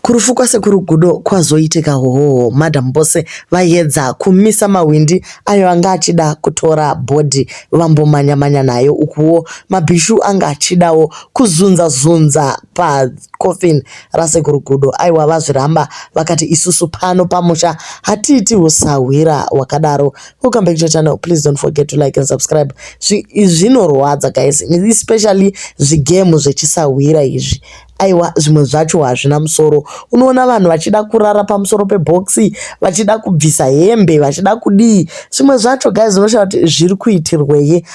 Kurufu kwasekuru Gudo kwazoitika hoho madam Bose vayedza kumisa mahwindi ayo anga achida kutora body vambomanya manya nayo ukuwo mabhishu anga achidawo kuzunza zunza pa coffin rasekuru Gudo aiwa vazviramba vakati isusu pano pamusha hatiiti husahwira wakadaro welcome back to channel please don't forget to like and subscribe zvinorwadza guys especially zvigemu zvechisahwira izvi Aiwa zvimwe zvacho hazvina musoro unoona vanhu vachida kurara pamusoro pebox vachida kubvisa hembe vachida kudii zvimwe zvacho guys unoshaya kuti zviri kuitirwei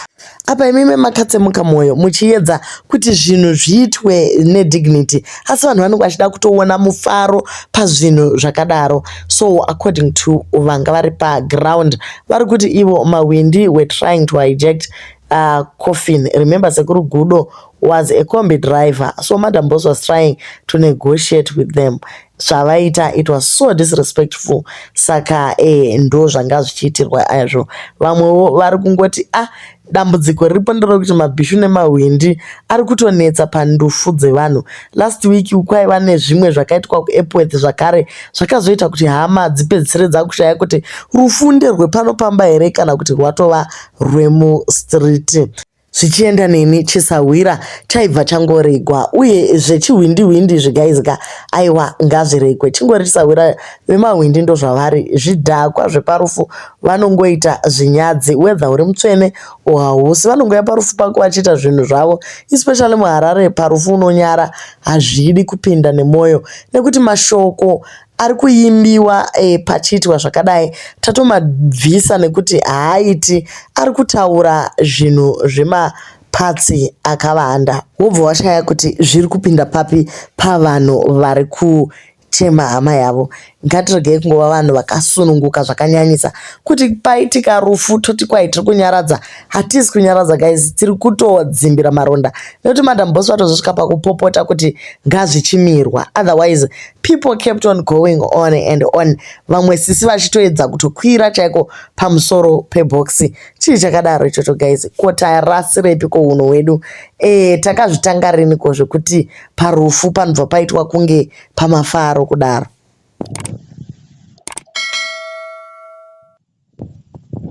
apa imimi makatsemuka mwoyo muchiyedza kuti zvinhu zviitwe nedignity asi vanhu vanenge vachida kutoona mufaro pazvinhu zvakadaro so according to vanga vari paground vari kuti ivo mawindi were trying to hijact uh, coffin remember sekuru gudo was a combi driver so madam boss was trying to negotiate with them zvavaita it was so disrespectful saka eh, ndo zvanga zvichiitirwa azvo vamwewo vari kungoti ah dambudziko riripo nderokuti mabhishu nemahwindi ari kutonetsa pandufu dzevanhu last week kwaiva nezvimwe zvakaitwa kuepworth zvakare zvakazoita kuti hama dzipedzisire dzakushaya kuti rufunde rwepano pamba here kana kuti rwatova rwemuStreet. Zvichienda neni chisahwira chaibva changoregwa uye zvechihwindi hwindi zvigaizika aiwa ngazviregwe chingori chisahwira vemahwindi ndozvavari zvidhakwa zveparufu vanongoita zvinyadzi whether uri mutsvene or hausi vanongoya parufu pako vachiita zvinhu zvavo especially muharare parufu unonyara hazvidi kupinda nemwoyo nekuti mashoko ari kuimbiwa eh, pachiitwa zvakadai tatomabvisa nekuti haaiti ari kutaura zvinhu zvema patsi akavanda wobva washaya kuti zviri kupinda papi pavanhu vari kuchema hama yavo ngatiregei kungova vanhu vakasununguka zvakanyanyisa kuti paitika rufu toti kwai tiri kunyaradza hatisi kunyaradza guys tiri kutodzimbira maronda nekuti madam boss vatozosvika pakupopota kuti ngazvichimirwa otherwise People kept on going on and on, vamwe sisi vachitoedza kutokwira chaiko pamusoro pebhokisi. Chii chakadaro ichocho guys? Ko tarasirepi ko hunhu hwedu? Eh, takazvitanga rini ko zvekuti parufu panobva paitwa kunge pamafaro kudaro?